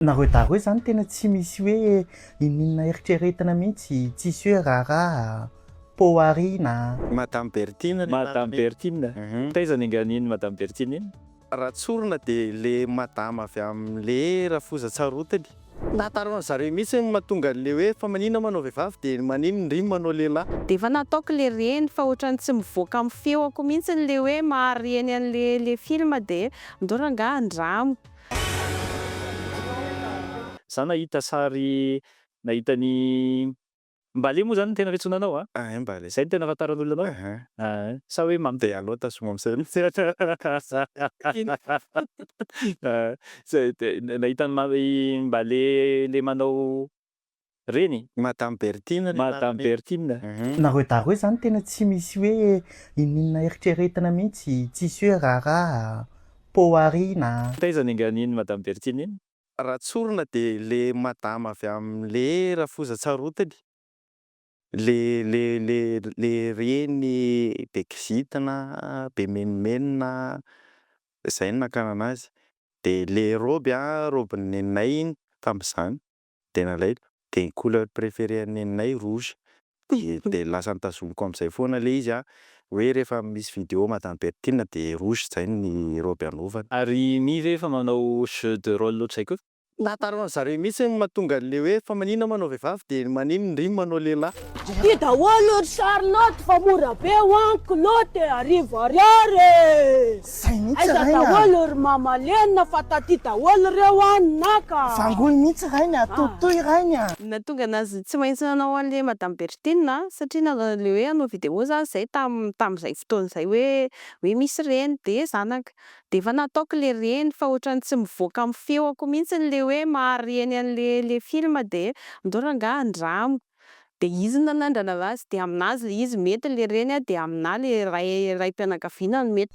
Nareo daroy zany tena tsy misy hoe ininona eritreretina mihitsy, tsisy hoe raharaha, poa ariana. Madame Bertine le marina. Madame Bertine, taiza ny angaha iny Madame Bertine iny? Raha tsorina dia le madama avy amin'ny le rafozan-tsarotiny. Tantaraon-dry zareo mihitsy ny mahatonga an'le hoe fa maninona manao vehivavy dia maninona indry ny manao lehilahy. Dia efa nataoko le reny fa ohatran'ny tsy mivoaka amin'ny feoko mihitsy le hoe mahareny an'le le film dia andao rangahy andramo. Za nahita sary nahita ny mbale moa zany no tena fiantsoana anao a? Ahay mbale. Zay no tena afantaran'olona anao? Ahay. Ahay. Sa hoe mamy. Dia alao tazomy amzay mihitsy. Zay dia nahita ny mbale le manao. Reny? Madame Bertine ry anarany. Madame Bertine. Nareo daroy zany tena tsy misy hoe ininona eritreretina mintsy, tsisy hoe raharaha, poa ariana. Taiza ny angaha iny Madame Bertine iny? Raha tsorina de le madama avy aminy le rafoza tsarotiny le le le le reny be kizitina be menomenona zay no nakana anazy de le robe an, robe ny neninay iny tamizany. Dia nalaiko, dia ny couleur préférée an'i Neninay rouge, dia lasa notazomiko amin'izay foana ilay izy an! hoe rehefa misy vidéo Madame Bertine dia rouge izay ny robe anaovany. Ary Mimi ve efa manao jeu de rôle ohatr'izay koa? Nahataran'ny zareo mihitsy ny mahatonga an'ilay hoe fa maninona manao vehivavy dia maninona ndry manao lehilahy? Ity daholo ry Charlotte fa mora be one kilaoty arivo ariary e! Zay mihitsy Aiza rainy a! daholo ry mama Lena fa taty daholo reo an ny naka! Vangoy mihitsy rainy a! Tohitohy rainy a! Ny nahatonga anazy tsy maintsy nanao an'le madame Berthine a, satria nanao an'le hoe hanao vidéo za zay tam tam'zay fotoana zay hoe hoe misy reny de zanaka, de efa nataoko le reny fa otrany tsy mivoaka am feoko mintsiny le hoe mahare ny an'le le film de andao rangah andramo. dia izy no nanandrana azy dia aminazy ilay izy mety ilay reny a dia aminà ilay ray raim-pianakaviana no mety.